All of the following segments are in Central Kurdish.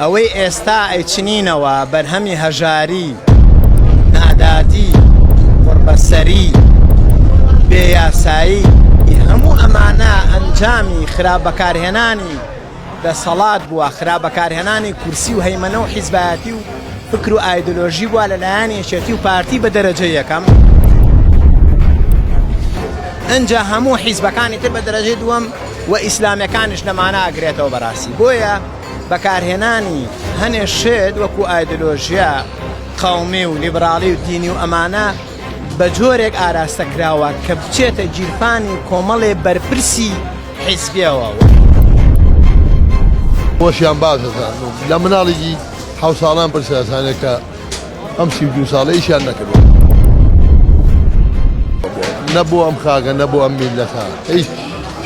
ئەوەی ئێستا ئەیچنینەوە بەرهەمی هەژاری، نادادی، قوڕبەسەری، بێ یاسایی، ی هەموو ئەمانە ئەنجامی خراپ بەکارهێنانی دەسەڵات بووە، خراپ بەکارهێنانی کورسی و هەیمەنە و حیزبایەتی و فکر و ئایدۆلۆژی بووە لە لایەن یەکێتی و پارتی بە دەرەجەی یەکەم، ئنجا هەموو حیزبەکانی تر بە دەرەجەی دووەم. و ئیسلامیەکانیش لەمانە ئەگرێتەوە بەراستی بۆیە بەکارهێنانی هەنێ شت وەکو ئایدلۆژیا قەومی و لیبرالی و دینی و ئەمانە بەجۆرێک ئاراستە کراوە کە بچێتە گیرفانی کۆمەڵێ بەرپرسی حیزبیەوە. بۆشیان باش دەزانن و لە مناڵێکی حەوت ساڵان پرسیارتانێکە ئەم سی و دوو ساڵە ئیشیان نەکردووە. نە بۆ ئەم خاکە نە بۆ ئەم میللەتە هیچ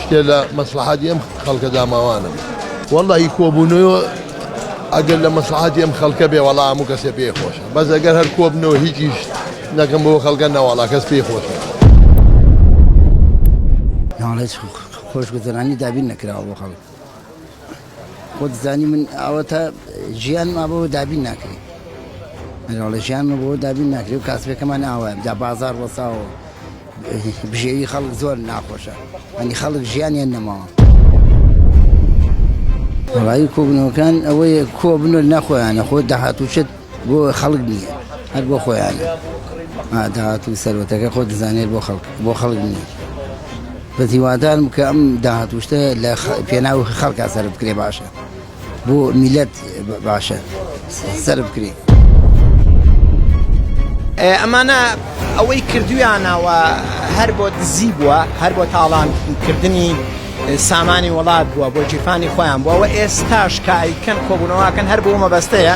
شتێ لە مەسلحاتی ئەم خەڵکە داماوانم والله هی کۆبوونەوە ئەگەر لە مەسلحاتی ئەم خەڵکە بێ وەڵا هەموو کەسێ پێ خۆشە بەس ئەگەر هەر کۆبنەوە هیچیش نەکەم بۆ خەڵکە نەواڵا کەس پێی خۆشە ناڵێت خۆشگوزەرانی دابین نەکراوە بۆ خەڵک خۆت زانی من ئەوەتە ژیانم ئابەوە دابین ناکرێت منڵە ژیانمە بۆ دابین ناکرێت و کاسبەکەمان ئاوە دا بازار وەساوە بژێوی خەڵک زۆر ناخۆشە ئەنی خەڵک ژیانیان نەماوە ڕای کۆبنەوەکان ئەوەیە کۆبنەوە ناخۆیانە خۆ داهاتوچێت بۆ خەڵک نیە هەر بۆ خۆیانە ها داهات و سەروەتەکە خۆ دەزانێت بۆ خەڵک بۆ خەڵک نیە بەس هیوادارم کە ئەم داهات وشتە لە پێناو خەڵکا سەر بکرێ باشە بۆ میلەت باشە سەر بکرێ ئەمانە ئەوەی کردویانەوە هەر بۆ دزی بووە هەر بۆ تاڵانکردنی سامانی وڵات بووە بۆ گیرفانی خۆیان بووە و ئێستاش کاریکەن کۆبوونەوەکەن هەر بۆ مەبەستەیە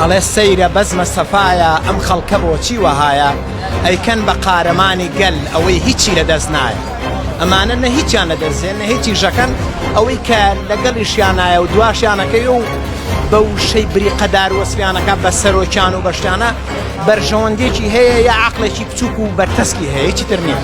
ئەڵێ سەیرە بەزمە سەفاایە ئەم خەڵکە بۆچی وەهایە ئەیکەن بە قارەمانی گەل ئەوەی هیچی لە دەست نایە ئەمانە نە هیچیان لە دەستێن نە هیچی ژەکەن ئەوەی کە لەگەڵیشیانایە و دواشیانەکەی و بە وشەی بریقەدار وەسفیانەکە بە سەرۆکیان و بەشتانە بەرژەوەندێکی هەیە یا عقلێکی بچووک و بەرتەسکی هەیەی تر نیە.